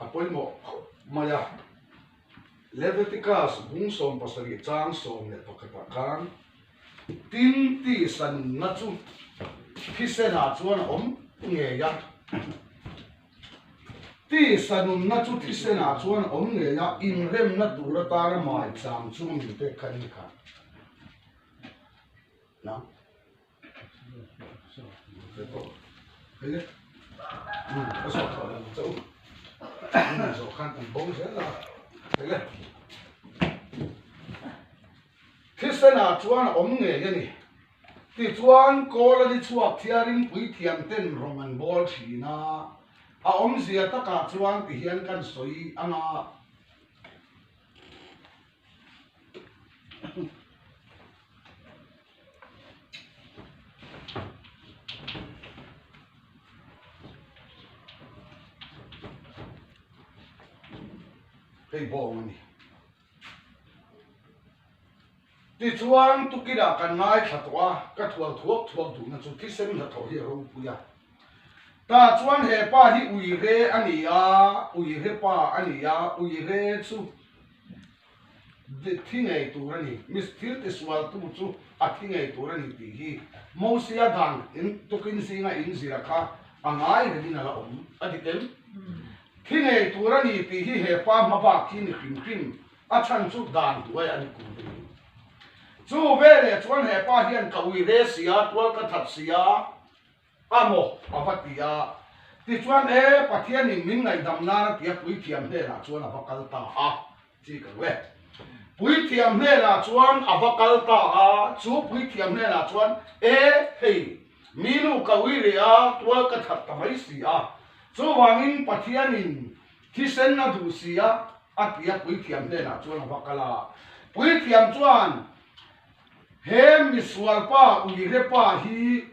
a pawimawh khawp mai a. Levitikas bung sawm pasarih chang sawm leh pakhatah khan tin tihsanna chu thisenah chuan a awm ngei a. Tihsanunna chu thisenah chuan a awm ngei a, inremna tur atana maichang chu min pek kha ni kha. Thilsena chuan a awm ngei a ni. Tichuan, Kawlani chhuak thiarin puithiam ten rawn rawn bual thin a, a awmzia takah chuan ti hian kan sawi a nga. Hei bawng a ni. Tichuan tukitah kan ngaithla tawh a, ka thual thuak thuak duhna chu thisen hla thawh hi a ropui a. Tah chuan he pa hi Uire a ni a, Uire pa a ni a, Uire chu. thi ngei tur a ni. Miss thilte sualtu chu a thi ngei tur a ni tih hi Mosia dan in tukin zinga in zira kha a ngai rengin a la awm a ni em? Thi ngei tur a ni tih hi he pa hma bak hi ni hrim hrim a chhan chu dan duai a ni kum rih. Chu veleh chuan he pa hian ka ui re sia, tual ka that sia. a maw? a va ti a. Tichuan, E, Pathianin min ngaihdam nan a tia puithiam hmelah chuan a va kal ta a, chi ka ring. Puithiam hmelah chuan a va kal ta a, chu puithiam hmelah chuan, E, hei, mi nu ka ui leh a, tual ka that ta mai si a, chuvangin Pathianin thisen a duh si a, a tia puithiam hmelah chuan a va kal a. Puithiam chuan, He misual pa, uirepa hi,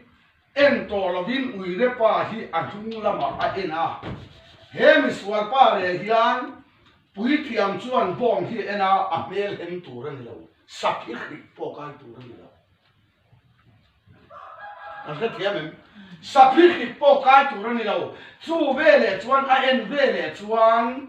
En tawh lovin Uirepa hi a hnung lamah a en a. He misual pa leh hian Puithiam chuan bomb hi a en a, a hmelhem tur a ni lo, sak hi hrih pawh kai tur a ni lo. Kan hrethiam em? Sak hi hrih pawh kai tur a ni lo. Chu veleh chuan a en veleh chuan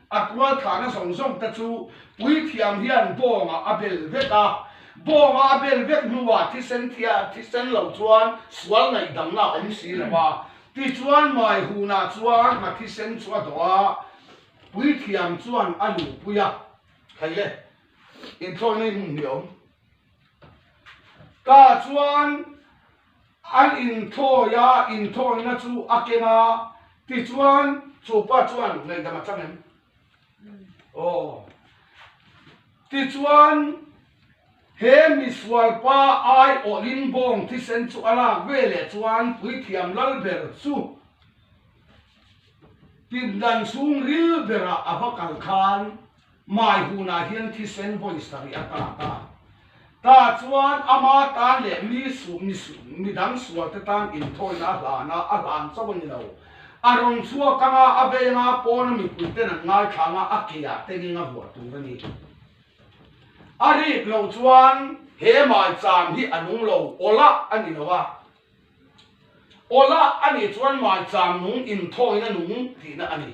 A kualthlahna zawng zawng te chu puithiam hian bawngah a bel vek a, bawngah a bel vek hnuah thisen thia thisen lo chuan sual ngaihdamna awm si lo a, tichuan mai hunah chuan hna thisen chu a dawh a, puithiam chuan a lupui a. Hlei le, inthlawi mai hmun hi a awm. Ka chuan an inthawi a, inthawiina chu a keng a, tichuan chupa chuan ngaihdam a chang em? Aw. Tichuan he misualpa aiawhin bawng thisen chu a lak ve leh chuan puithiam lal ber chu pindan chhung ril berah a va kal khan. Mai hunah hian thisen vawi sarih a tat a, ta chuan a ma tan leh mi suh mi midang sual te tan inthawina a hlan a, a hlan chauh a ni lo. A rawn chhuak anga a venga pawna mipui ten an ngaithlang a, a keiah te ning a vuah tur a ni. A rip loh chuan he mai cham hi a nung lo awlah a ni lo a, awlah a nih chuan mai cham nung inthawina nung tihna a ni.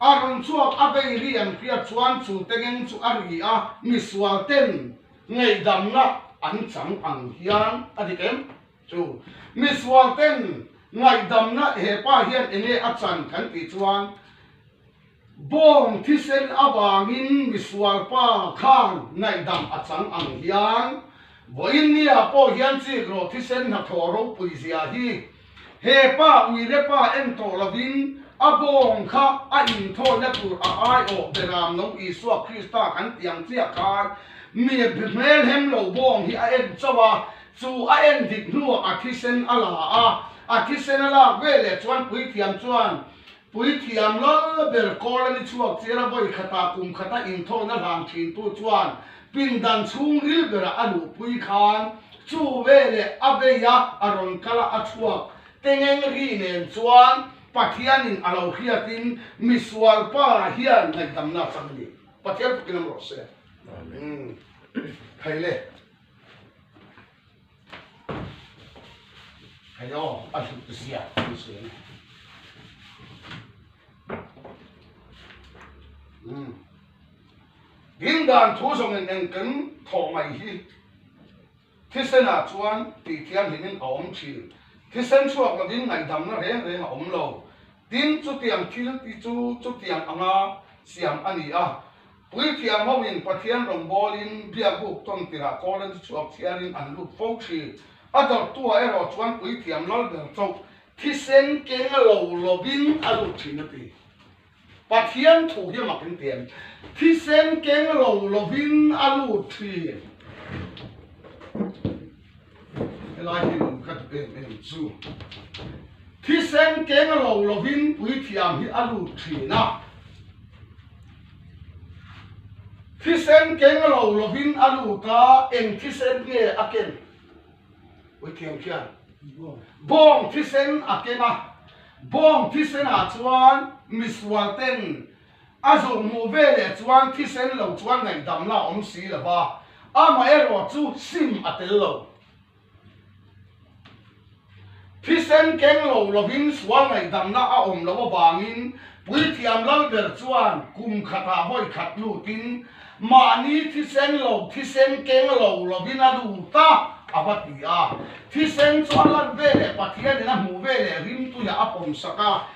A rawn chhuak a vei ri ang hriat chuan chung te ngeng chu a ri a, misual ten ngaihdamna an chang ang hian a dik em? Ṭhu. Misual ten ngaihdamna hepa hian eng nge a chan kan tih chuan bawng thisen avangin misual pa khan ngaihdam a chang ang hian vawiin nia pawh hian chik rawh thisen hnathawh ropui zia hi He pa uile pa en tawh lovin a bawng kha a inthawina tur a aiawh pe ram lo Isua Krista kan tiang chiah khan mibi hmelhem lo bawng hi a en chauh a, chu a en dik hnuah a thisen a la a, a thisen a lak veleh chuan puithiam chuan Puithiam lal ber kawl an i chhuak che ra, vawi khata kum khata inthawhna hlan thintu chuan pindan chhung ril berah a luhpui khan chu ve leh a vei a a rawn kal a, a chhuak tengeng ri nen chuan Pathian in a lo hriat in misual pa hian ngaihdamna a chang a ni. Pathian pakin lam rawh se. Amen. Thei le. Ding dan thu zawng in engkim thawh mai hi thisen ah chuan tih thianghlim in a awm thin. Thisen chhuak lo in ngaihdamna reng reng a awm lo. Tin, chutiang thil hi chu chutiang anga siam a ni a. Puithiam ho in Pathian rawngbawl in biak buk tawn tirah kawl an ti chhuak chiar in an lut fo ṭhi. A dawrhtua erawh chuan puithiam lal ber chauh thisen keng lo lovin a lut ṭhin a ti. Pathian thu hi a mak in tiam thisen keng lo lovin a lut ṭhin. Helai hi lo khat em em chu thisen keng a lo lovin puithiam hi a lut thin a. Thisen keng a lo lovin a lut a, eng thisen nge a keng? Puithiam khian bawng thisen a keng a, bawng thisenah chuan misual ten, A zulh hmuh ve leh chuan thisen lo chuan ngaihdam la awm si lo va, amaherawh chu sim a tel lo. Thisen keng lo lovin sual ngaihdamna a awm loh avangin Puithiam lal ber chuan kum khatah vawi khat lutin mahni thisen lo thisen keng lo lovin a lut a, a va ti a. Thisen chuan lan veleh Pathianin a hmuh veleh rimtuiah a pawm sak a.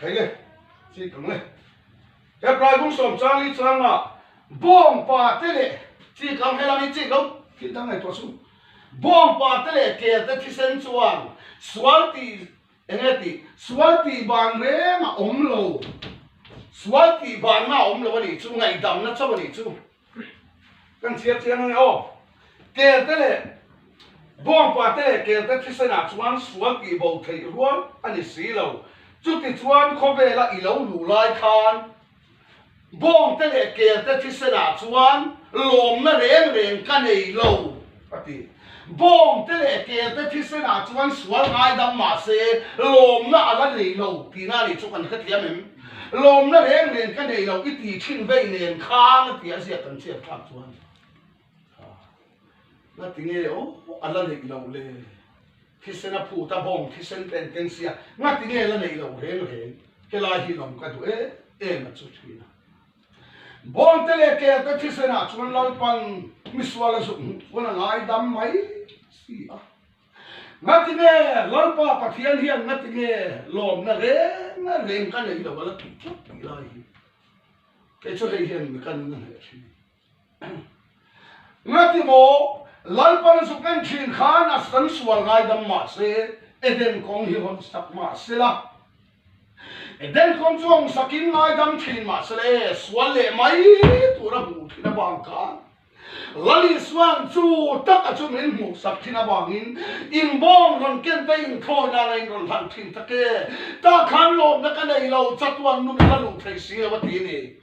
Thei le, chik ang le. He praibung sawm changli changa bawng pa te leh chik ang helang hi chik ang thil dang nei tawh chu. Bawng pa te leh ker te thisen chuan sual ti eng nge tih sual tih ban reng a awm lo. Sual tih ban na awm lo a nih chu ngaidam na chauh a nih chu. kan chhiar chian a ni aw. Kelte leh bawngpate leh kelte thisenah chuan sual tih bo theih rual a ni si lo. Chutichuan khawvela i lo luh lai khan bawngte leh kelte thisenah chuan lawmna reng reng ka nei lo. a ti. Bawng te leh kel te thisen ah chuan sual ngai dam mah se lawmna a la nei lo tihna a nih chu kan hrethiam em? Lawmna reng nen ka nei lo i ti thin veih nen khang a ti a ziak kan chhiat thlak chuan ha na ti nge aw a la neih lo le thisen a phut a bawng thisen te an keng sia na ti nge la neih lo reng reng helai hi lawm ka duh em em a chu thin a. Bawngte leh kelte thisenah chuan Lalpan misual a zuk hmuh chuan a ngaidam mai si a. Ngatinge Lalpa Pathian hian ngatinge lawmna reng a reng ka neilo a la tuh chuak tih lai hi, kei chu hei hian mi kan la hneh a thin. Nga ti maw? Lalpan zuk en thin khan a kan sual ngai dam mah se, Eden kawng hi hawn sak mah se la. Eden kawng chu hawn sak in ngai dam thin mah se le, sual leh mai tur a hmuh thin avang khan Lali suan chu tak a chu min hmuh sak thin avang in inbawm rawn ken te inthawi nana in rawn hlan thin tak e. Tah khan lawmna ka nei lo, chatuan nu min la luh thei si lo a ti a ni.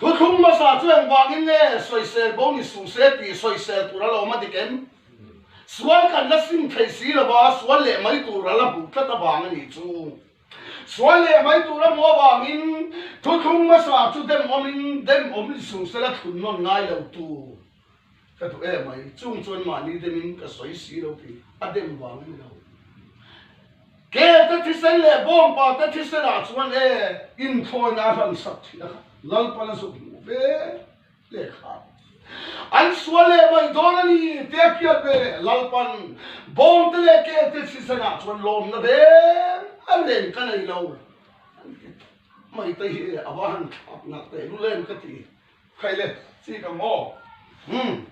Thuthlung hmasa chu engvangin nge sawisel bo ni su se tih sawisel tur a la awm a dik em? Sual kan la sim thei si lo va, sual leh mai tur a la hmuh tlat avang a nih chu. Sual leh mai tur a hmuh avangin thuthlung hmasa chu demawmin, demawm ni su sela thlun nawn ngai lo tur. Ka duh em mai, chung chuan mahni demin ka sawi si lo tih a dem vang ni lo. Kelte thisen leh bawngpa te thisenah chuan e inthlawina a hlansak thin a khat. Lalpa la zawh hmuh ve hle kha an sual leh mai dawn a ni tia hriat ve leh lalpan bawngte leh kelte thisenah chuan lawmna ber a reng ka nei lo. An ti, Maite hi e, ava han thlak nakte lu lem ka ti. Khaih le, chi ka ngawh. Umm.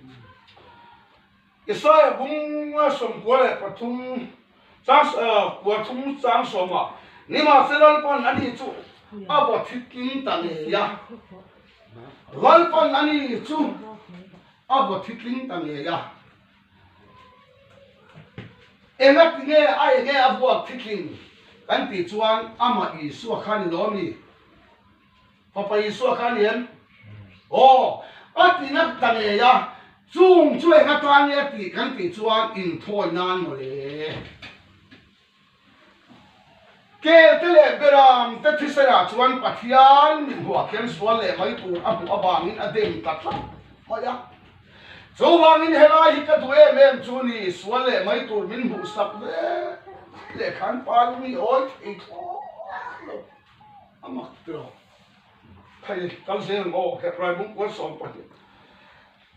Isaiah bunga sawm kua leh pathum chang ah kua thum chang sawm ah nimahse Lalpan a nih chu a va thitling ta ngei a. Lalpan a nih chu a va thitling ta ngei a. Enga tinge a enge a vuak thitling kan tih chuan amah Isua khan i lawm i. Fapa Isua kha a liam, Aw, a ti nak ta ngei a, chung chu eng atan nge a tih kan tih chuan inthawi nan maw le? Kelte leh Beram te thisen-ah chuan Pathian mithmuah khian sual leh mai tur a hmuh avangin a dem ta tlat mai a. Chuvangin helai hi ka duh em em chu ni, sual leh mai tur min hmuh sak ve leh khan pa lung i awi thei thlawk lo.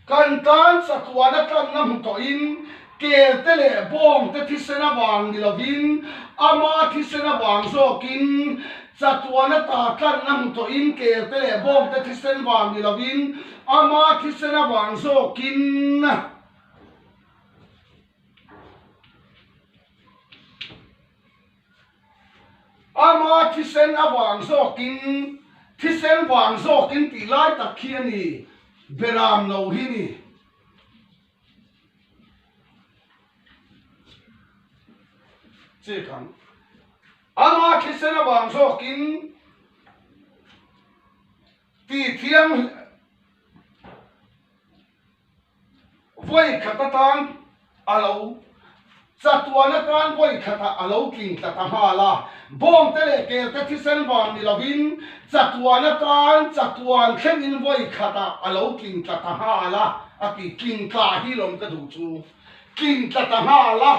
Kan tan chatuan a tlanna hmu tawhin kelte leh bawngte thisen avang ni lovin ama thisen avang zawkin chatuan a ta tlanna hmu tawhin kelte leh bawngte thisen vang ni lovin ama thisen avang zawkin Ama thisen a vang zawkin thisen vang zawkin tih lai tak khi a ni, Beram lo hi ni. Check ang. Ama thisen a vang zawkin ti thiang, Vawikhat atan a lo chatuan atan vawikhatah a lo tling tlat a nghal a, bawngte leh kelte thisen vang ni lovin chatuan atan chatuan thlengin vawikhatah a lo tling tlat a nghal a, a ti. Tling tla hi lawm ka duh chu tling tlat a nghal a,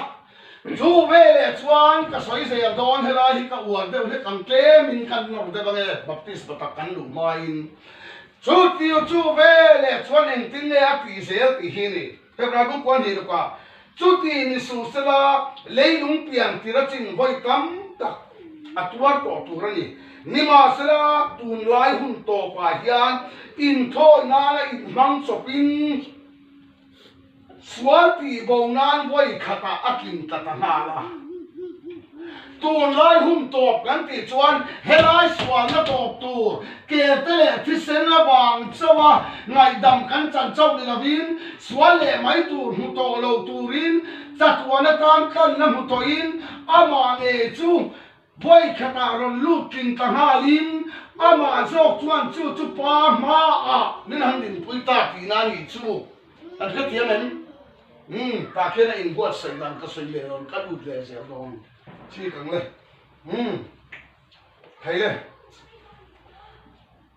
chu veleh chuan ka sawi zel dawn helai hi ka uar deuh hlek ang, tlemin kan nawr deuh ange Baptist batak kan luh hmain Chu tih chu ve leh chuan engtin nge a tih zel tih hi a ni. Hebrai bung kual hnih lukah chu tih ni suh sela leilung pian tir a chin vawi tam tak a tuar tawh tur a ni. Nimahsela tunlai hun tawpah hian inthawihnana inhmang chawpin, Sual tih bo nan vawi khatah a kin tla ta nghal a. Tunlai hum tawp kan tih chuan helai sualna tawp tur kerte leh thisen avang chauha ngaihdam kan chan chauh ni lovin sual leh mai tur hmu tawh lo turin chatuan atan tlanna hmu tawhin amah ngei chu Pawi khatah rawn lut tling ta nghalin amah zawk chuan chu chupa hma ah min han inpui ta ti na nih chu kan hre thiam em? Umm, tah khian a inbuatsaih dan ka sawi leh dawn, ka lut leh zel dawn chik ang le. Umm, thei le.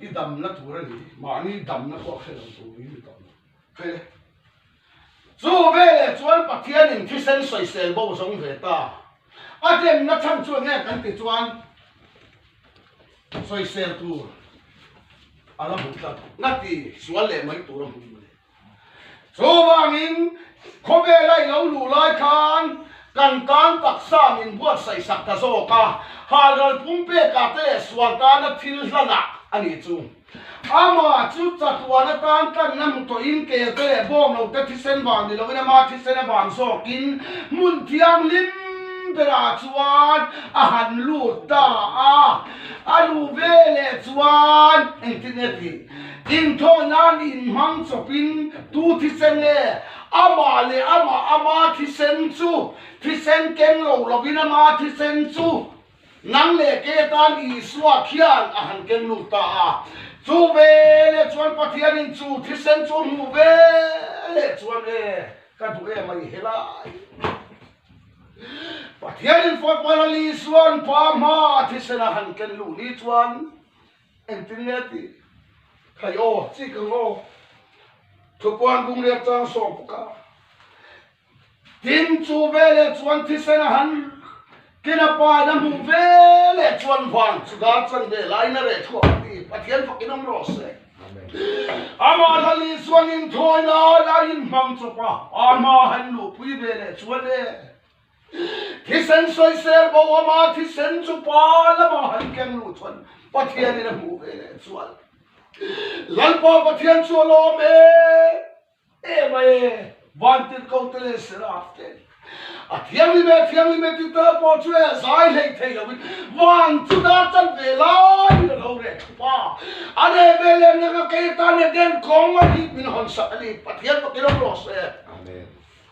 i dam na tur a ni mahni dam na pawh a khelh lo turin mi tam lo heh chu veleh chuan pathianin thisen soisel bo zawng ve ta a dem na chhan chuan heng kan ti chuan soisel tur ala hmu tlat ngati sual leh mai tur a hmu. Chuvangin, khawvela i lo luh lai khan kan tan taksa min buatsaih sak ta zawk a, halral pumpek ah te leh sual tana thil hlanah a nih chu. Amah chu chatuan atan tlanna hmu tawhin kelte leh bawmlo te thisen vang ni loin ama thisen a vang zawkin hmun thianghlim berah chuan a han lut ta a. A luh veleh chuan engtin nge ti? Inthaw nan in hmang chawp in tu thisen nge ama leh ama ama thisen chu thisen keng lo lo in ama thisen chu nang leh ke tan Isua khian a han keng lut ta a chu veleh chuan Pathian in chu thisen chu hmuh veleh chuan e ka duh e mai helai Pathian in fawt palh a Isuan pa hma thisen a han keng lut ni chuan Engtin nge a tih? Khai aw, chi ka ngawh. Thupuan bung riak chuan a sawh bawk a. Tin chu veleh chuan thisen a han kin a pa in a hmuh veleh chuan vang chuda chanve lai na reh thuah ka ti. Pathian fakin awm rawh se. Amah la leh chuan in thawi lai a inhmang chawp a. Amah a han luhpui veleh chuan e. Thisen sawi ser bo a mah thisen chu pa lamah han keng lut chuan Pathian in a hmuh ve leh chuan Lalpa Pathian chu alawm e em a e Vantirhko te leh Seraph te a thianghlim e thianghlim e tite pawh chu e zai hleih theih lo in van chu dar chat ve lai in alo reh thup a a reh ve leh nang a kei atan e den kawng a nih min hawn sak a ni Pathian pakin awm rawh se. Amen.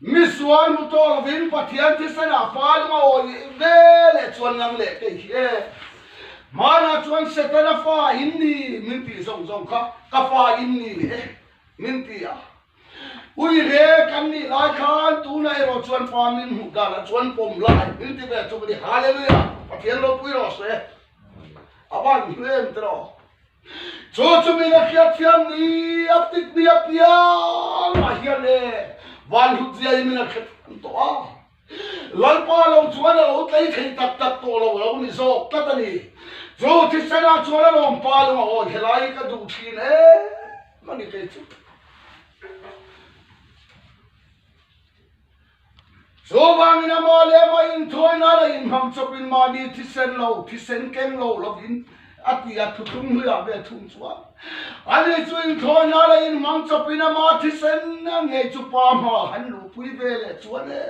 Misual mutual lovin Pathian thisen-ah Palung a awi leh ve leh chuan lang leh teh hi e. Hmanah chuan Satan a fa in ni min tih zawng zawng kha ka fa in ni leh e min ti a. Ui re kan nih lai khan tunah erawh chuan fa min hmuh danah chuan pawm lai min ti ve chuk a ni. Hallelujah! Pathian ropui rawh se. A van hnu em tiraw? Chu chumi la hriatthiam ni a tik mi apiang ah hian e van hlut zia in min a khethuam tawh a, Lalpa lo chuan a lo tlei thei tak tak tawh lo a lo ni zawk tlat a ni. Chu Thisen-ah chuan a lawm palung a hawn helai hi ka duh thin em a ni kei chu. Chuvangin amah leh amah inthawi nan a inhmang chawp in mahni thisen lo, thisen keng lo lovin a ti a, thu tum hnuiah ve a thum chuan. Ani chu inthawi nan a inhmang chawp in amah thisen a ngei chu pa hma han luhpui ve leh chuan e,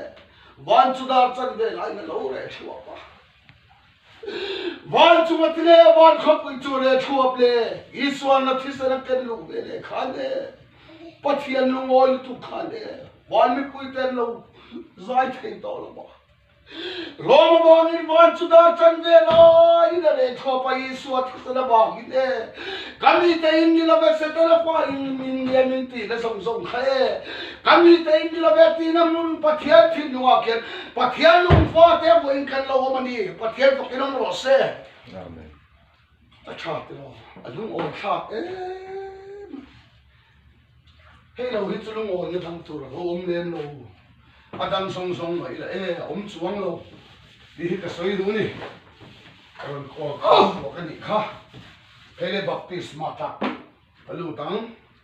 van chu dar chan ve lai na lo reh thluah va. Vancunga ti leh van khawpui chu leh thuap leh Isualna thlisana ken luh ve leh khan e, Pathian lungawi lutuk khan e, van mipui te an lo zai thei tawh lo bawk a. Roma bangin van chu dar tan ve laiin a leh thuap a, Isua thlisana bangin e, ka mite in nila ve se tawh la fa in min liam in ti ila zawng zawng kha e. Kan mite in milo ve tiin a hmun Pathian thil hnungah khian Pathian lungfa te vuahin kan lo awm a ni. Pathian vakin awm rawh se. Amen. A tha tilo, a lungawi tha em. Hei lo hi chu lungawi na dang tur alo awm lem lo. A dang zawng zawng mai ila e, a awm chuang lo tih hi ka sawi duh a ni. Ka rawn call kha a hruak a nih kha. Hei le baptisma tak ka lut ang.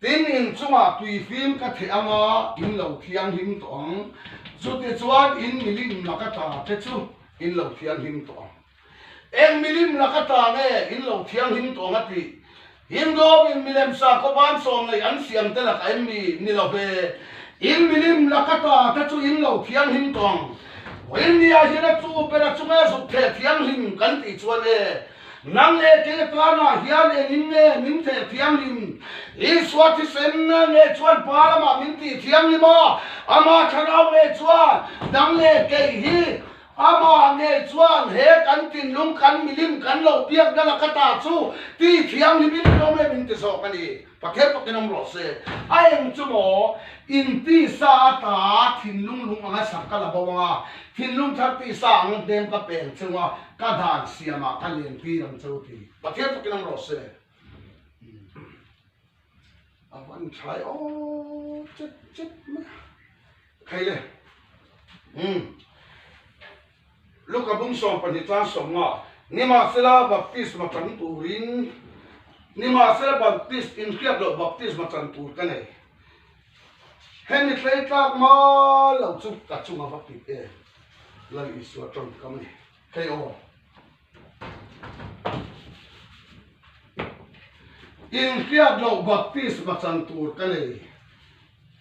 Tin, in chungah tui fim ka theh ang a, in lo thianghlim tawh ang. Chutichuan in milim laka ta te chu in lo thianghlim tawh ang. Eng milim laka ta nge in lo thianghlim tawh ang a tih? Hindawmin milem sakawp an sawm neih an siam te lakah em mi? Ni lo hme. In milim laka ta te chu in lo thianghlim tawh ang. India hian a chu bera chunge zuk theh thianghlim kan tih chuan e. Nang leh ke tan ah hian eng in nge min feh thianghlim? Isua thisen nge chuan Pa lam ah min tih thianghlim a? Amah thlarau nge chuan nang leh kei hi Amah nge chuan he kan thinlung kan milim kan lo biak nal a ka ta chu ti thianghlim in hlawm em in ti zawk a ni. Pa kher pakin awm rawh se. A eng chu maw, in tisa ata thinlung lung anga sak ka la bo ang a, thinlung thar tisa ang hnem ka peng cheu a, ka dan siam ah ka len tir ang cheu ti. Pa kher pakin awm rawh se. A van thlai aw chet chet mai a. Khaile. Umm. Luka bum sawm pahnih chuan sawmnga nimahsela baptisma chan turin nimahsela baptist inhriat loh baptisma chan tur ka nei. Hemi tleitlak mal lo chu ka chunga va pip em? Lal Isua tawngkam a ni thei aw. Inhriat loh baptisma chan tur ka nei.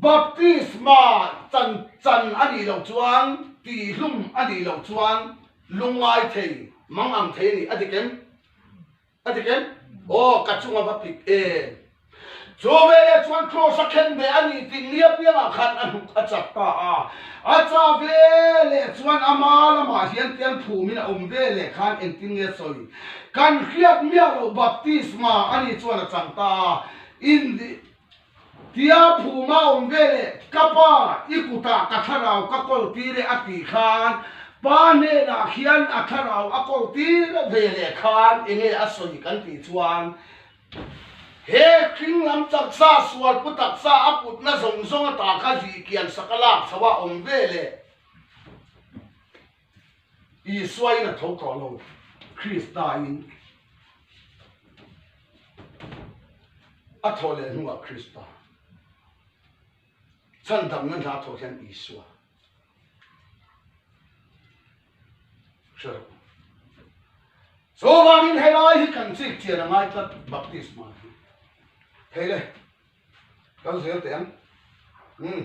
Baptisma chan chan a nih loh chuan tihhlum a nih loh chuan lungngai thei mang ang thei a ni. A dik em? A dik em? Aw, ka chung a va pik em? Chu veleh chuan Kraws a khen ve a ni tih ni apiangah khan a hnuk a chak ta a. A cha veleh chuan a hma lamah hian tial phum in a awm veleh khan engtin nge sawi? Kan hriat miah loh baptisma a nih chuan a chang ta a. Indi. Tia phuma awm ve leh ka pa i kuta ka thlarau ka kawl tir e a tih khan pa hnenah khian a thlarau a kawl tir ve leh khan enge a sawi kan tih chuan he hringlam taksa sualpu taksa a putna zawng zawng atah kha zihkian sak a lak chho a awm ve leh. Isua in a tho tawh lo, Krista in a tho leh hnuah Krista, chhan damna hna tho hian Isua, hre lo. Chuvangin helai hi kan chik chian a ngai tlat baptisma hi. Thei le, kan zel teh ang. Umm.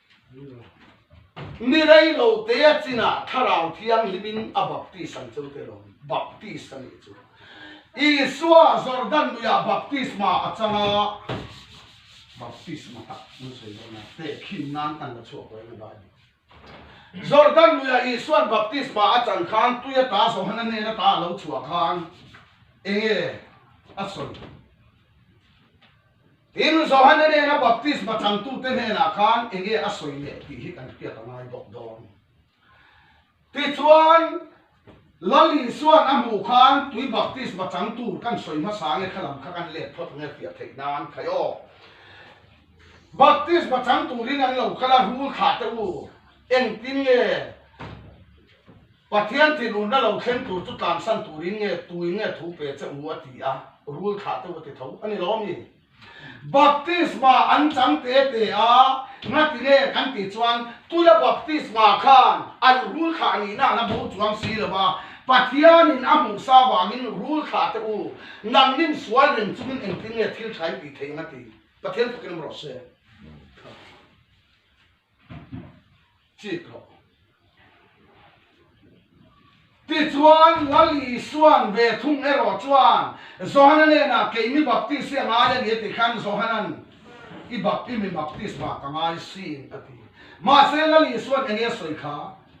Mi rei lo te a chin ah Thlarau Thianghlim in a baptist ang cho te lo. Baptist a nih chu. Isua Jordan lui ah baptisma a chang a. Baptisma tak an sawi dawn a, teh khim nan kan la chhuak dawn a Bible. Jordan lui ah Isua baptisma a chang khan tui ata Johana nen a ta a lo chhuah khan enge a sawi? Tin, Johana nena baptisma chantute hnenah khan eng nge a sawi leh tih hi kan hriat a ngai bawk dawn. Tichuan, Lal Isua'n a hmuh khan tui baptisma chang tur kan sawi hmasa nge kha lam kha kan let phawt ang e hriat theih nan khai aw. Baptisma chang turin an lo kal a, Rul thlah teh u. Engtin nge Pathian thinurna lo thleng tur chu tlansan turin nge tuin nge thu pe che u a ti a, rul thlah deuh a ti tho a ni lo ami? Baptisma an chang te te a, ngati nge kan tih chuan tula baptisma khan an rul thlah ni na na bo chuang si lo a, Pathianin a hmuh sa vangin rul thlah te u, nang nim sual reng chungin engtin nge thil thain tih theih ang a ti? Pathian thukin a maw rawh se? Chik lo. Tichuan Lal Isuan ve thung erawh chuan Johana nena kei mi baptist hi a ngai a ni a ti khan Johana'n i bap i mi baptist vang ka ngai si in a ti. Mahse Lal Isuan enge sawi kha?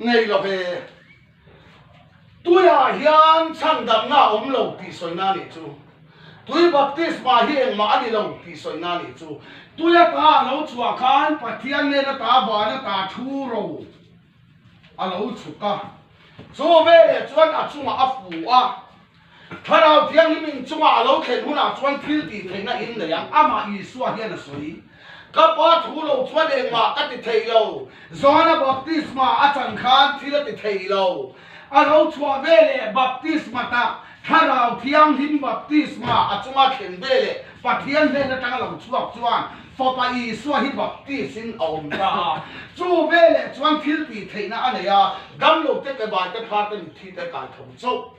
Ngei lo he, tuiah hian chhangdamna a awm lo tih sawi na nih chu, tui baptisma hi engmah a ni lo tih sawi na nih chu, tui a ta a lo chhuah khan Pathian nena ta van a ta thu ro a lo chhuk a, chu veleh chuan a chungah a fuh a, Thlarau Thianghlim inchungah a lo thlen hunah chuan thil tih theihna hi an nei ang. Amah Isua hian a sawi, Ka Pa thu lo chuan engmah ka ti thei lo. Johana Baptisma a chan khan thil a ti thei lo. A lo chhuah ve leh Baptisma ta, Thlarau Thianghlim Baptisma a chunga thlen ve leh Pathian hnen atanga lo chhuak chuan Fapa Isua hi Baptist in a awm ta a. Chu veleh chuan thil tih theihna a nei a, damlote, pebaite, pharte, mitthite, kaitho chauh.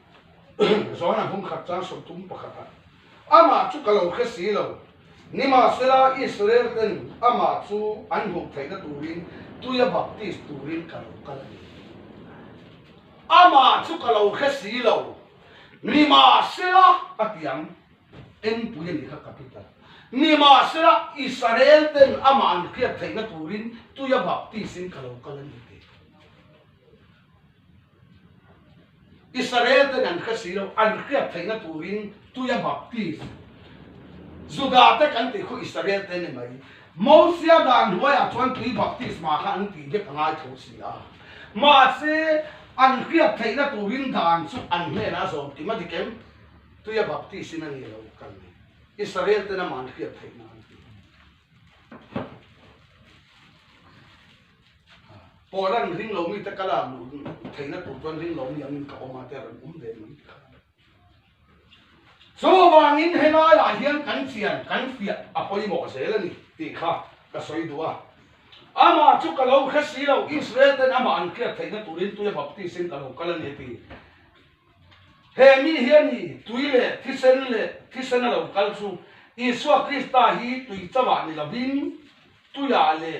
Zuan a hum khat chuan sawi tum pakhat a, Amah chu ka lo hre si lo. Nimahsela Israel ten Amah chu an hmuh theihna turin tuia baptist turin ka lo kal a ni. Amah chu ka lo hre si lo. Nimahsela a tiang engpui a nih kha capital. Nimahsela Israel ten Amah an hriat theihna turin tuia baptist in ka lo kal a ni tih. Israel ten an hre si lo, an hriat theih na turin tuia baptist Juda te kan tih khaw Israel te ni mai. Mosia dan hnuai ah chuan tui baptisma kha an ti vek a ngai tho si a. Mahse an hriat theih na turin dan chu an hnen ah a zawm tim a dik em? Tuia baptist in a ni lo kal mai. Israel ten amah an hriat theih na an ti. Pawh ran ring lo mi te ka lak duh theihna tur chuan ring lo mi ang in ka awm a te ran awm ve mai tih kha. Chuvang in he lai ah hian kan chian kan fiah a pawimawh zel a ni tih kha ka sawi duh a. Amah chu ka lo hre si lo, Israel ten amah an tliat theihna tur in tuia baptist in ka lo kal a ni a ti. He mi hian i tui leh thisen leh thisen a lo kal chu Isua Krista hi tui chauh ah ni lo in tuiah leh,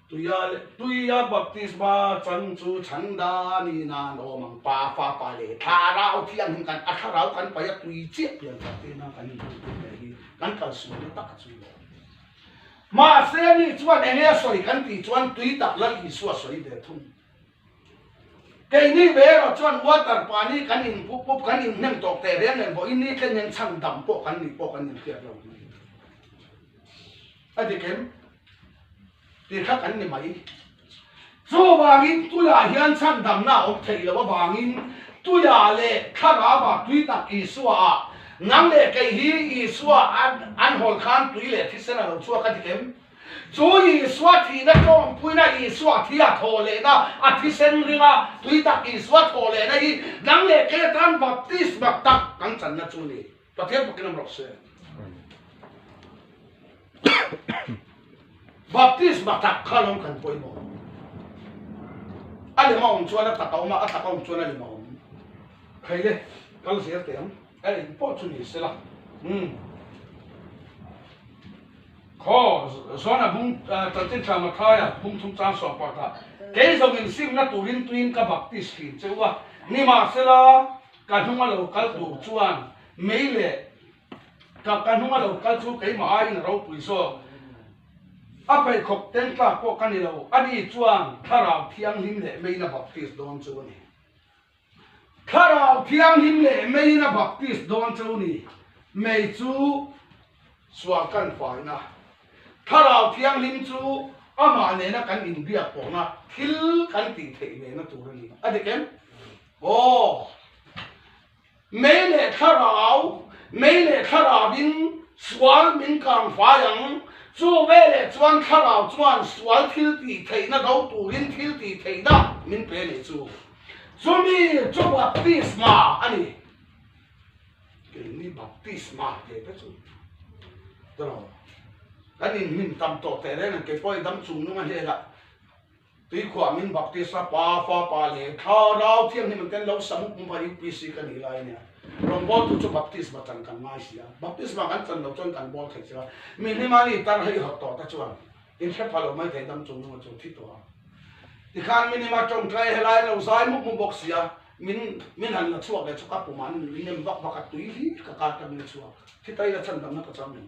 Tuia le tuia baptisma chang chu chhangda ni nan awm ang. Pa, Fapa leh Thlarau thiang in kan a thlarau kan paih a tui chiah pian tha te nan kan inhmang tur leh hi kan kalsuai na tak a chhui lo. Mahse mi chuan enge sawi kan tih chuan tui tak lal Isua sawi ve thung. Keini ve erawh chuan water pahnih kan in pup pup kan in hnem tawh teh reng reng pawh i ni tlen hian chhan dam pawh kan nih pawh kan in hriat lo mai a, a dikem tih kha kan ni mai. Chuvangin tuiah hian chhan damna a awm theih loh avangin tuiah leh thlarauva tui tak Isua ah nang leh kei hi Isua an hawl khan tui leh thisen a lo chhuak a tikem. Chu Isua thihna tlawmpuina Isua thi a thaw lehna a thisen ringa tui tak Isua thaw lehna hi dang leh kher tan baptisma tak kan channa chu ni. Pathian pakin awm rawk se. Baptisma tak kha lawm kan pawimawh. A lem a awm chuan a tak a awm a, a tak a awm chuan a lem a awm. Khaile kal zir teh ang. Ka ring pawh chu ni sela umm Khaw Zuana bung Tantin Chama thaia bung thum chang suak pah ta kei zawngin simna turin tuiin ka baptist fim cheu a ni mah sela ka hnunga lo kal tur chuan mei leh ka ka hnunga lo kal chu keimah aiin a ropui zawk a pheikhawk teng tlak pawh ka ni lo a ni chuan thlarau thianghlim leh meina baptist dawn chu a ni. Thlarau Thianghlim leh Meina Baptist Dawncho ni mei chu sual kan fai na, Thlarau Thianghlim chu amah nena kan in biak pawh na thil kan tih theih ve na tur a ni. A dik em? Aw. Mei leh thlarau, mei leh thlarau in sual min kang fai ang, chu ve leh chuan thlarau chuan sual thil tih theih na do turin thil tih theih na min pe leh chu. Chumi chu baptisma a ni. Keini baptisma tih te chu tawh kan in hmin tam tawh teh reng ang keipawi dam chung nung a hlela tui khuah min baptisa pa fapa leh thlarau thianghlim an ten lo sam mup mup a UPC ka nih lai ania rawngbawl tu chu baptisma chan kan ngai si a baptisma kan chan lo chuan kan bawl thei che a mi hlimah ni tarhei hawt tawh te chuan In hre pha lo mai theih dang chung nunga chu thi tawh ang. Tikhan min hima tawngtai he lai lo zai mup mup bawk sia, min min han la chhuak leh chhuak a pumah min min nem vak vak a, tui hi ka kar ta min a chhuak. Thi ta ila chhan damna ka chang em?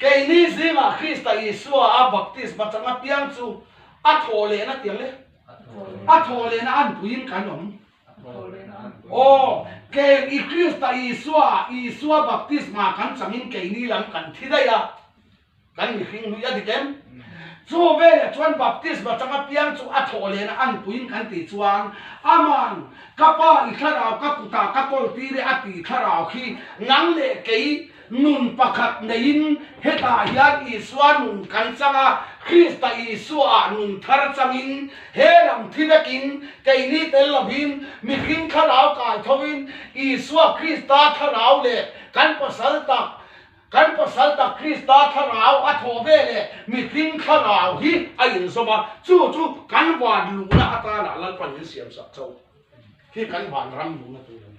Keini zingah Krista Isua a baptisma changa piang chu a thawh leh na tiang le? A thawh leh na an puiin kan awm. Aw, keng i Krista Isua ah Isua baptisma kan changin keini lam kan thi daih a, kan mihring hnuih a dik em? Chu veleh chuan baptisma changa piang chu a thawh leh na an puiin kan ti chuan Ama'n ka Pa i thlarau ka kutah ka kawltir e a tih thlarau khi nang leh kei Nun pakhat neiin hetah hian Isua nun kan chang a, Krista Isuaah nun thar changin he lam thi vekin keini tel lovin mihring thlarau kai thoin Isua Krista thlarau leh kan Pasal tak kan Pasal tak Krista thlarau a thaw ve leh mihring thlarau hi a inzawm a, chu chu kan van luhna atana lalpanin siamsak chauh hi kan vanram luhna tur a ni.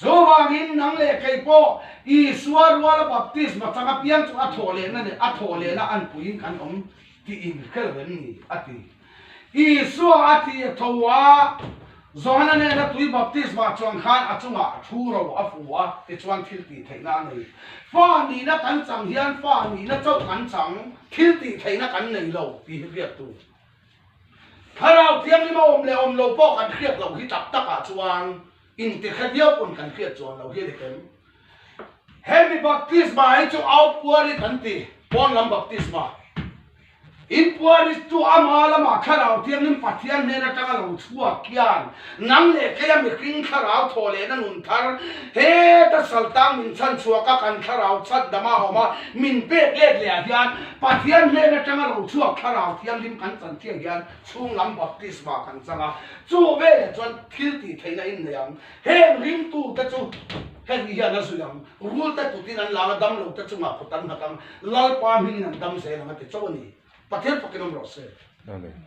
Chuvangin nang leh kei pawh Isua ruala baptisma chang apiang chu a thawh lehna leh a thawh lehna an puiin kan awm tiin hre reng ni, a ti. Isua a thi a tho a, Johana nena tui baptisma chuang khan a chungah thu ro a fuh a, tichuan thil tih theihna a nei. Fa nihna kan chang hian fa nihna chauh kan chang, thil tih theihna kan nei lo, tih hi biaktu. Thlarau Thianghlim a awm leh a awm lo pawh kan hriat loh hi tak takah chuan intikhet viau pawn kan hriat chuan lo hi a ni hlem. Hemi Baptisma hi chu Out Puari kan ti, Pawn lam Baptisma. In Puari chu ama lamah Thlarau Thianghlim Pathian hnen atanga lo chhuak hian, Nang leh keia mihring thlarau thaw lehna nun thar heta saltang min chhan chhuak a, kan thlarau chhat dam a awm a, min pek lek leh ah hian Pathian hnen atanga lo chhuak thlarau thianghlim kan chan chiah hian chhung lam baptisma kan chang a, chu ve leh chuan thil tih theihna in nei ang, heng rim tu te chu heti hian a zuih ang, rul te kut in an la ang a, dam lo te chungah kut an nghat ang, Lalpa hming in an dam zel ang a ti chauh a ni, Pathian pakin awm rawh se. Amen.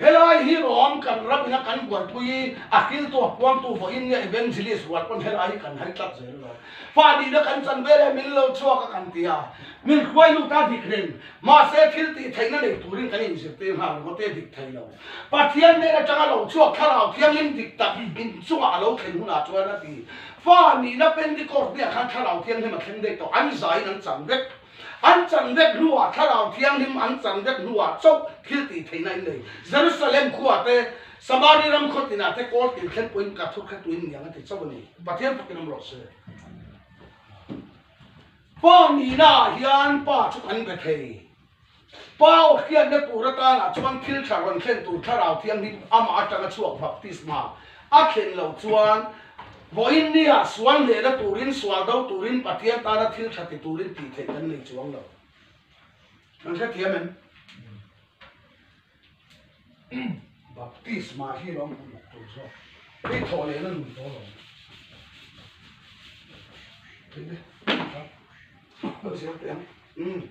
Helai hi rawm kan rang ina kan buaipui i a hriltuah puamtu vawiinnia evangelist rual pawn helai hi kan haitlat zel lo. Fahdihna kan chan vel e, min lo chhuak a kan ti a, min hruai lut a dik reng. Mahse, thil tih theihna nei turin kan inzir te nghal ringawt e, dik thei lo. Pathian nen atanga lo chhuak Thlarau Thianghlim dik tak in chungah a lo thlen hunah chuan a ti, Fa nihna Pentecost hniah khan Thlarau Thianghlim a thleng daih tawh, an zaiin an chang vek. An chan vek hnuah Thlarau Thianghlim an chan vek hnuah chauh thiltih theihna in nei. Jerusalem khua te, Samari ram khaw tinah te Kawl tin thlen pawhin ka thawkhat tuin niang a ti chauh a ni. Pathian phawtin ram rawh se. Pa nihna ah hian pa chu kan be thei. Pau a hriatna tur atana chuan thil tha rawn thlen tur Thlarau Thianghlim amah atanga chhuak baptisma a thlen lo chuan vawiin nia sual hnehna turin sual do turin Pathian tana thil tha ti turin tih theih kan nei chuang lo. Kan hrethiam em? Baptisma hi lo hmu mak tur zawk hei thawh lehna nun pawl awm a.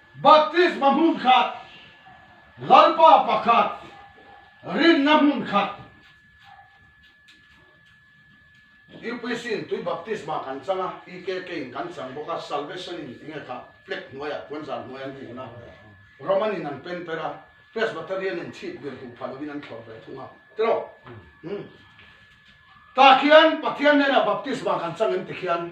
Baptisma hmun khat, Lalpa pakhat rinna hmun khat, UPC in tui Baptisma kan chang a, EKK in kan chang bawk a, Salvation in enge kha flag hnuaiah puanzar hnuai an hung a, Roman in an pen per a, Presbyterian in chhit bir duh phah lovin an thlawr ve thung a, tilo umm tah khian Pathian hnenah Baptisma kan chang em tikhian,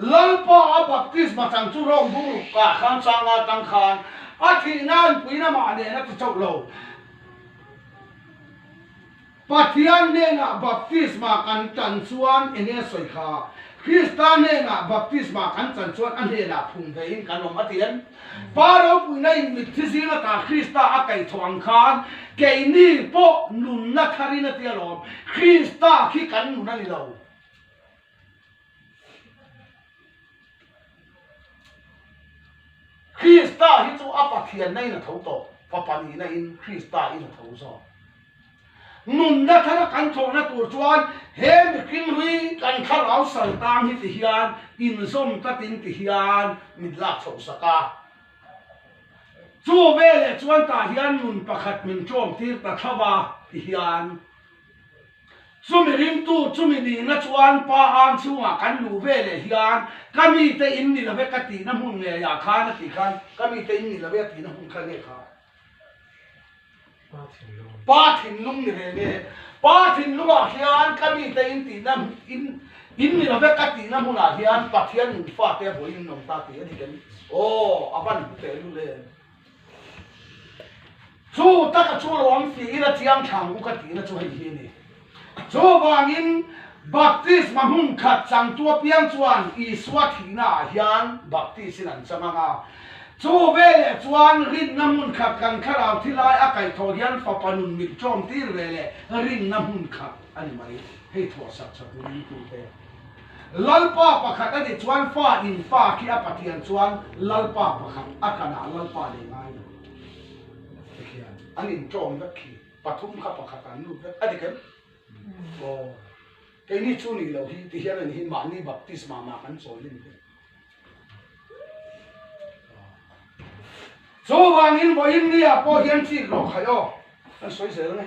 Lalpa a baptisma chang chu Rome bungruk kah khan changa tang khan a thih nan puina mah nen a ti chauh lo. Pathian hnenah baptisma kan tan chuan eng nge sawi kha? Krista hnenah baptisma kan tan chuan a hnenah phung ve in kan awm a ti em? Pa ropuina in mitthi zing latah Krista a kaih thawh ang khan keini pawh nunna thar in a ti alawm. Krista khi kan nun a ni lo. Krista hi chu a Pathianna in a tho tawh, Fapa nihna in Krista in a tho zawk. Nunna thar kan thawhna tur chuan he mihring hi kan thlarau sal ta ang hi ti hian inzawm ta tin ti hian min lak chhoh sak a. Chu veleh chuan tah hian nun pakhat min ṭawm tir ta thlauh a ti hian, Chumi ringtu chumi nihna chuan pa ang chhungah kan lu ve leh hian ka mite in ni love ka tihna hmun ngei ah khan a ti khan ka mite in ni love a tihna hmun kha nge kha? Pa thinlung ni ve nge? Pa thinlung ah hian ka mite in tihna in in ni love ka tihna hmun ah hian pathian nufa te vawiin an awm ta tih a ni ka nih? Aw a van hmu teh lut em. Chu taka chu lo awm si ila chiang thlang u ka tihna chu hei hi a ni. Chuvangin baptisma hmun khat changtu apiang chuan Isua thihna ah hian baptisin an chang ang a. Chu veleh chuan rinna hmun khat kan thlarau thi lai a kaih thawh hian fapa nun mit tlawm tir veleh rinna hmun khat a ni mai. Hei thuawhsak chhatu dingtu te. Lalpa pakhat a ni chuan fa in fa khi a pathian chuan lalpa pakhat a khan ah lalpa leh ngai lo te khian an in tlawm vek khi pathum kha pakhat an lut vek a ti khem aw kei ni chu ni lo hi ti hian an hi mahni baptisma mah kan chawi lim ve chu vang in vawiin mi ah pawh hian chik lo khaih aw kan sawi zel nge.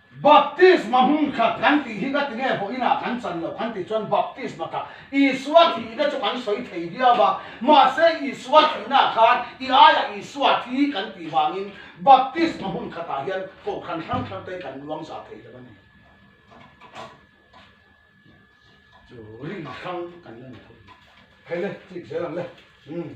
Baptisma hmun khat kan tih hi ka ti nge vawiin ah kan chan lo, kan tih chuan baptisma kha Isua thihna chu kan sawi thei viau a, mahse Isua thihna ah khan i aiah Isua thi kan tih vangin baptisma hmun khat ah hian kohhran hrang hrang te kan luangzah thei lo a ni. Chu ri hrang kan la ni thei. Khaile, chik zel ang le. Umm.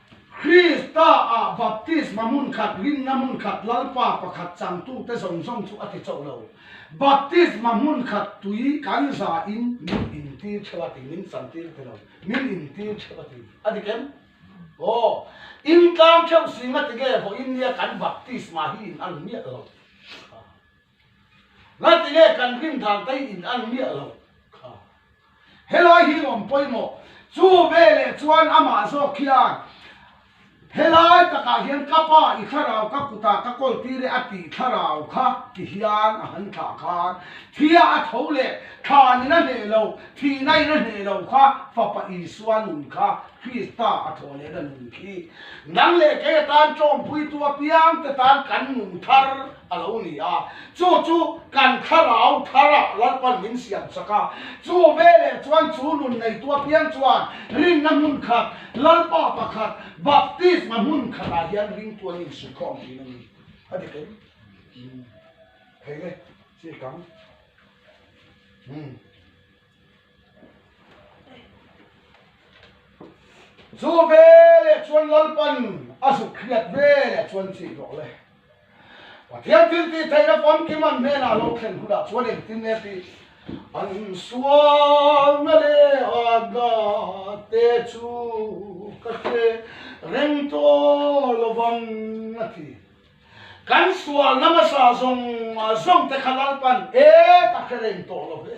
Krista ah Baptisma hmun khat, rinna hmun khat, Lalpa pakhat changtu te zawng zawng chu a ti chauh lo. Baptisma hmun khat tui kan za in min in tir theuh a ti, min chan tir ti lo, min in tir theuh a ti. A ti kem? Aw. In tlang theuh sing a ti nge vawiin nia kan Baptisma hi in ang miah lo. Nga ti nge kan rim dan tei in an miah lo kha. Helai hi awm pawimawh. Chu veleh chuan amah zawk hian helai takah hian ka pa i thlarau ka kutah ka kawltir e a tih thlarau kha ti hian a han thlah khan thia a tho leh thlan in a hneh lo thihna in a hneh lo kha fapa Isua nun kha Krista a thaw lehna nun khi nang leh kei atan tlawmpuitu apiangte tan kan nun thar a lo ni a, chu chu kan thlarau thar ah Lalpan min siam chak a, chu ve leh chuan chu nun neitu apiang chuan rinna hmun khat, Lalpa pakhat Baptisma hmun khat ah hian ring tu an insuih khawm thin a ni, a dik em? Umm. Thei nge, si a kang? Umm. Chu veleh chuan Lalpan a zuk hriat veleh chuan chih zawh le. Pathian thil tih theihna famkim an hnenah lo thlen hun ah chuan engtin nge tih an sualna leh a na te chu ka hre reng tawh lovang a ti. Kan sual namasa zawng zawng te kha lalpan e tak hi a reng tawh lo hle.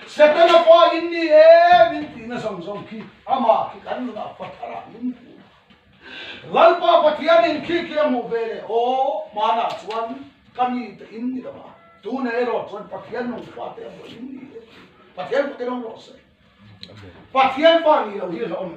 Setana fa in ni e min ti na zawng zawng khi amah khi kan nun ah fa thar ah min ti na. Lalpa Pathian in khi khi a hmuh ve le aw hmaan ah chuan ka mi te in ni lo a, tu nei erawh chuan Pathian nung fa te a buai in ni e. Pathian kut erawh erawh a sawi. Pathian fa ni lo hi a hlawh a mi.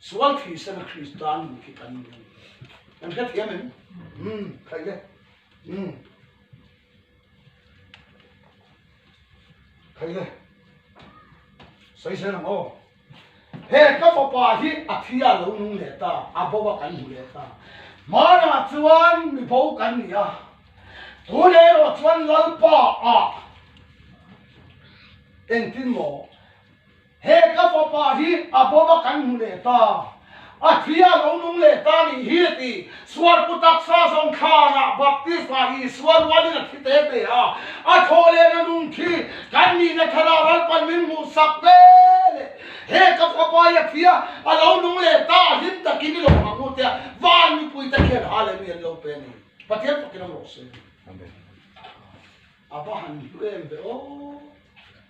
Sual thih sena Krista nun khi kan ni ang. Kan hre thiam em? Um, khai le. Um. Khai le. Sai sen ang o. He ka fapa hi a thia lo nung le ta, a bowa kan hmu le ta. Mana chuan mi bo kan ni a. Tu le ro chuan lalpa a. Engtin maw? He ka fapa hi a bawma kan hmu leh ta, a thi a lo nung leh ta nih hi a ti. Sualpu taksa zawng thlan ah baptisma hi sual rual in a thi te hle a, a thaw len a nung khi kan nih na thara ral pan min hmuh sak ve le. He ka fapa hi a thi a a lo nung leh ta a hlim tak in i lo hmang u tia van mipui te khian ha leh mi an lo pen i Pathian phawk in awm rawh seh. A va han hlu em ve aw.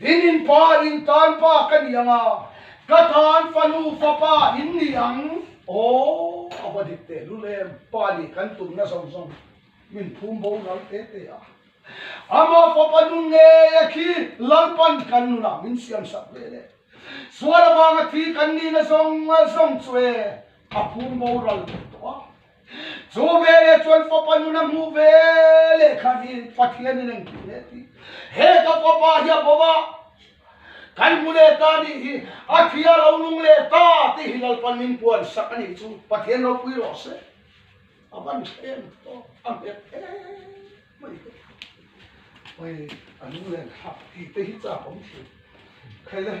In in pa in tan pa ka ni ang a, ka tan fanu fapa in ni ang. Aww a va dik teh lul em, pa nih kan tum na zawng zawng min phum bo lal teh teh a, ama fapa nun ngei a khi lalpan kan nun ah min siam sak ve le, sual avanga thi kan ni na zawng zawng chu e a phum bo ral teh tawh a. Chu veleh chuan fapa nun a hmuh ve leh khan hi Pathian in a intih hle a ti. He ka fapa hi a bawm a, kan hmu leh ta nih hi, a thi a lo nung leh ta tih hi Lalpan min puan sak a nih chu, Pathian lo pui rawh se, a van thlem tawh a nghet em mai hi. Awii a lunglen hak tih te hi chak awm thin khaile.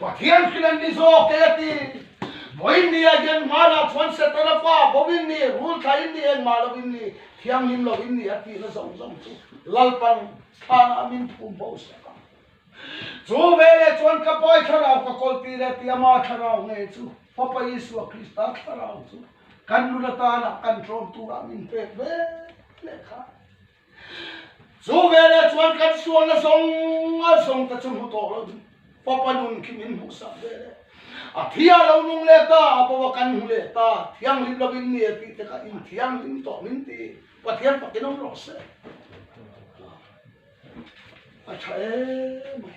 Pathian khin an ni zawk kei a ti. Vawiin ni a hian hma lah chuan Satan a fa boin ni, rul thlaiin ni, engmah lovin ni, thianghlim lovin ni a tihna zawng zawng chu lalpang thlana a min phum bo sak a. Chu veleh chuan ka Pai thlarau ka kawl ti leh ti a mah thlarau nge chu Fapa Isua Krista thlarau chu kan nun atanah kan tlawm turah min pek ve leh kha. Chu veleh chuan kan sualna zawnga zawng te chu hmu tawh lo ding. Fapa nun khi min hmuh sak veleh a thia lo nung leh ta a pawa kan hmu leh ta thianghlim lovin ni e tih te kha inthianghlim tawh min ti Pathian pakin awm rawh se. A tha em mai.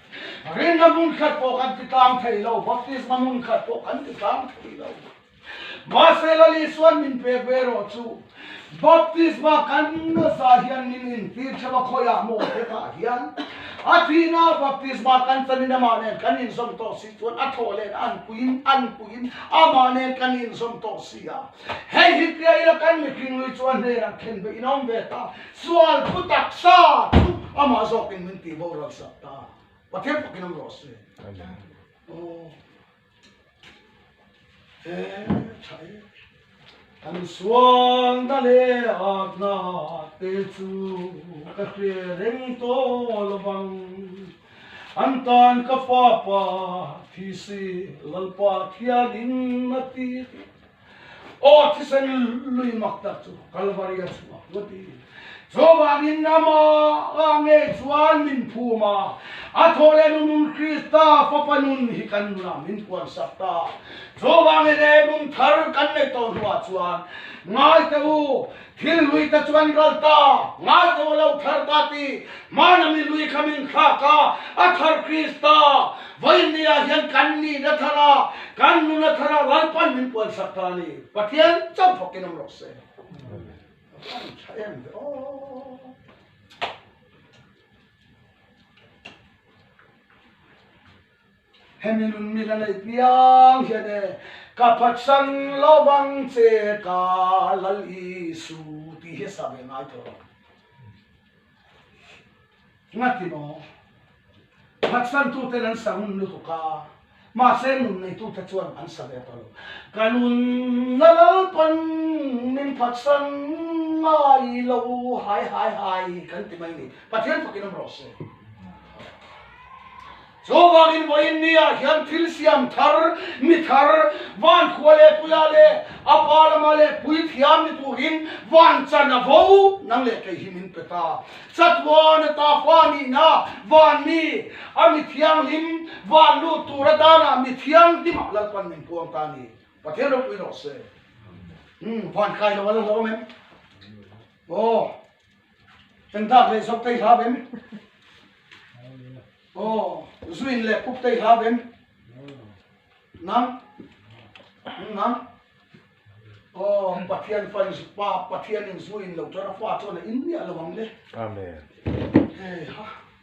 Rinna hmun khat pawh kan ti tlang thei lo, baptisma hmun khat pawh kan ti tlang thei lo. Mahse la Isuan min pek ve erawh chu, baptisma kan nasa hian min intir theuh a khawi ah maw te tah hian a thihna baptisma kan chhan in amah nen kan inzawm tawh si chuan a thawh len an puiin an puiin amah nen kan inzawm tawh si a. Hei hi piah ila kan mihringlui chu a hnenah khen ve in awm ve ta, sual phu taksa thu amah zawk in min ti boral sak ta, Pathian pakin awm rawh si. Aw he tha e. Kan sual na leh at na te chu ka hria reng tawh lo bang, an tan ka papa thisi Lalpa thian in a ti. Aw thisen lui mak tak chu Kalvari a chhuak vat hi Jehovah rinna mah a ngei chuan min phum a, a thaw leh nunun Krista fapa nun hi kan nunah min puansak ta. Jehovah nge leh nun thar kan neih tawh hnuah chuan ngaite u, Thil lui te chuan ral ta, ngai tawh lo thar ta ti hman a mi lui kha min thlak a, a thar Krista vawiinni ah hian kan ni na thar a, kan nu na thar a ral pan min puan sak ta a ni. Pathian chau phawk in awm rawh se. Amen. Tha em ve aw. Hemi nun mi la nei piang hian e ka phatsan lovang che ka lal Isu tih hi sa ve ngai tawh lo. Ngati maw? Phatsan tu ten an sa ngun lutuk a, mahse nun nei tu te chuan an sa ve tawh lo. Ka nun la lalpan min phatsan ngai lo hai hai hai kan ti mai ni. Pathian fakin awm rawh se. Chu vangin vawiin nia hian thil siam thar, mi thar, vankhua leh puia leh a pa lama leh puithiam ni turin van chan a vo. Nang leh kei hi min pe ta. Chatuan a tafa nihna vanmi a mi thianghlim van lut tur atana mi thianghlimah lalpan min puang ta ni. Pathian ropui rawh se. Umm, van kai lo a la hlawm em? Aw. Kan dak leh zawk teihla bem. Aw zu in leh puk teihla bem. Nang? Hm nang? Aw Pathian fan zu pa Pathian in zu in lo tara fa chuan a in miah lo ang le. Amen. Hei ha.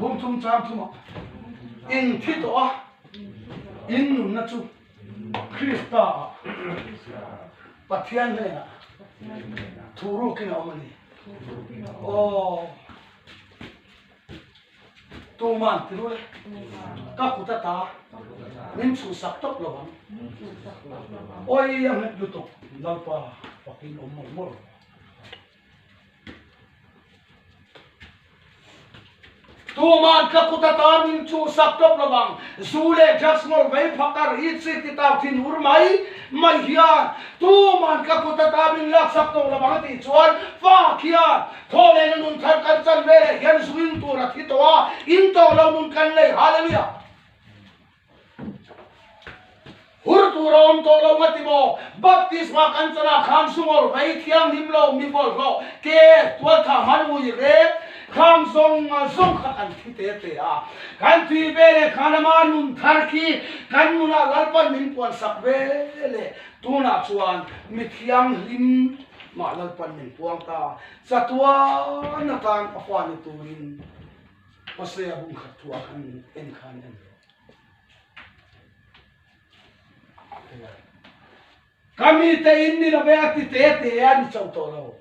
Bum chungchang chungah eng thi tawh a, in nunna chu Krista Pathian hnenah thu rukin a awm a ni. Aw, tuman ti ruh le, ka kut ata min chhuhsak tawp lo ang, awia nghet lutuk Lalpa Pathian awm mawlh mawlh. Tuma'n ka kut ata min chuhsak tawp lo vang. Zu leh drugs ngawlh vei phah ka ri chhi ti tau thin hur mai mai hian tuma'n ka kut ata min laksak tawh lo vang tih chuan fa khian thaw nen a nun thar kan chanve leh hian zuing tur a thi tawh a, in tawh lo nun kan nei haleluia. Hur tur a awm tawh lo va ti maw? Baptisma kan chawlh ah khan sungawlh rei, thianghlim lo, mipawlh lo, ke, tualthah han ngui rep, kham zawng zawng kha kan thi te te a. Kan tui ve leh khan ama nun thar khi kan nun ah Lalpan min puan sak ve leh tunah chuan mi thianghlim mah Lalpan min puang ta, chatuan atan a huani turin. Hosea bum khat thu a kan en kha an en ve. Kami te in ni lo ve a ti te te a ni chau tawh lo.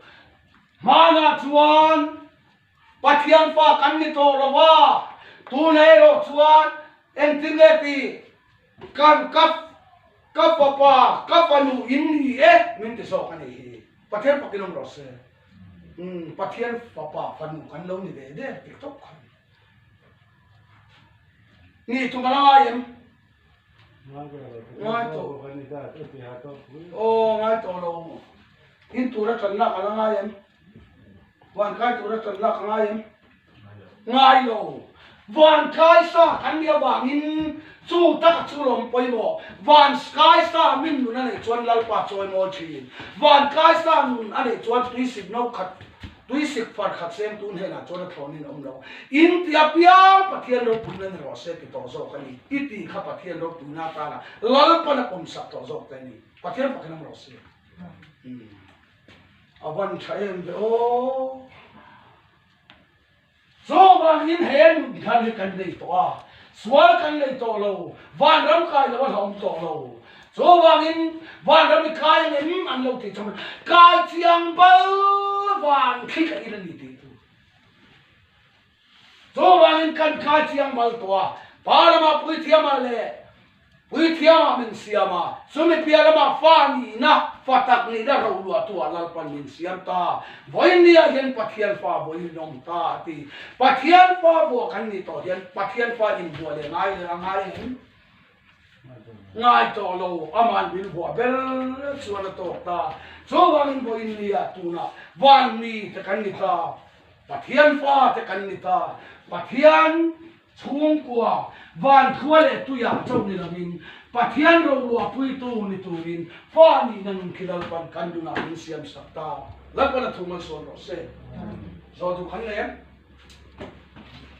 Hmana chuan Pathian fa kan ni tawh lo va. Tunah erawh chuan engtin nge ti? Kan ka, ka fapa, ka fanu in ni e min ti zawk a nih hi. Pathian pakin awm rawh se. Umm, Pathian fapa fanu kan lo ni ve ve dik tawp khan. Ni thum a la ngai em? Ngai tawh. Aw, ngai tawh lo. In tura channa a la ngai em? Vankai tura chawn lak a ngai em? Ngai lo. Vankai sa kan nih avangin chu taka chu lawm pawimawh. Vanskai sa min nun a nei chuan Lalpa chu a ngawi thin. Vankai sa nun a nei chuan tui sik no khat, tui sik far khat semtu hnenah chuan a thlawnin a awm lo. In tih apiang Pathian ropuina ni rawh se ti tawh zawk a ni. I tih kha Pathian ropuina atana Lalpan a pawm sak tawh zawk te a ni. Pathian fakhin a awm rawh se. Umm. A van tha em ve aw. Chuvangin he an nut nghan hi kan nei tawh a, sual kan nei tawh lo, vanram kai loh a hla awm tawh lo. Chuvangin vanram i kai ang em an lo ti chauh mai. Kai chiang bal vang khi ka i la ni tih a tu. Chuvangin kan kai chiang mal tawh a, pa lama puithiam ah le puithiam ah min siam a, chu mipia lama fa nih na, fa tak nih na roh luah tu ah lalpan min siam ta. Vawiin ni ah hian Pathian fa vawiin min awm ta a ti. Pathian fa vuah kan ni tawh hian Pathian fa invuah leh ngai leh a ngai em? ngai tawh lo ama'n min vuah ber chuan a tawk ta chu vang in vawiin ni ah tunah van mi te kan ni ta pathian fa te kan ni ta pathian chhungkua van thua leh tuia chauh ni lo in pathian rorua pui tu ni tur in fa ni na nun khi lalpan kan nun ah min siam sak ta lalpana thu malsawn rawh se zawltu khan lem.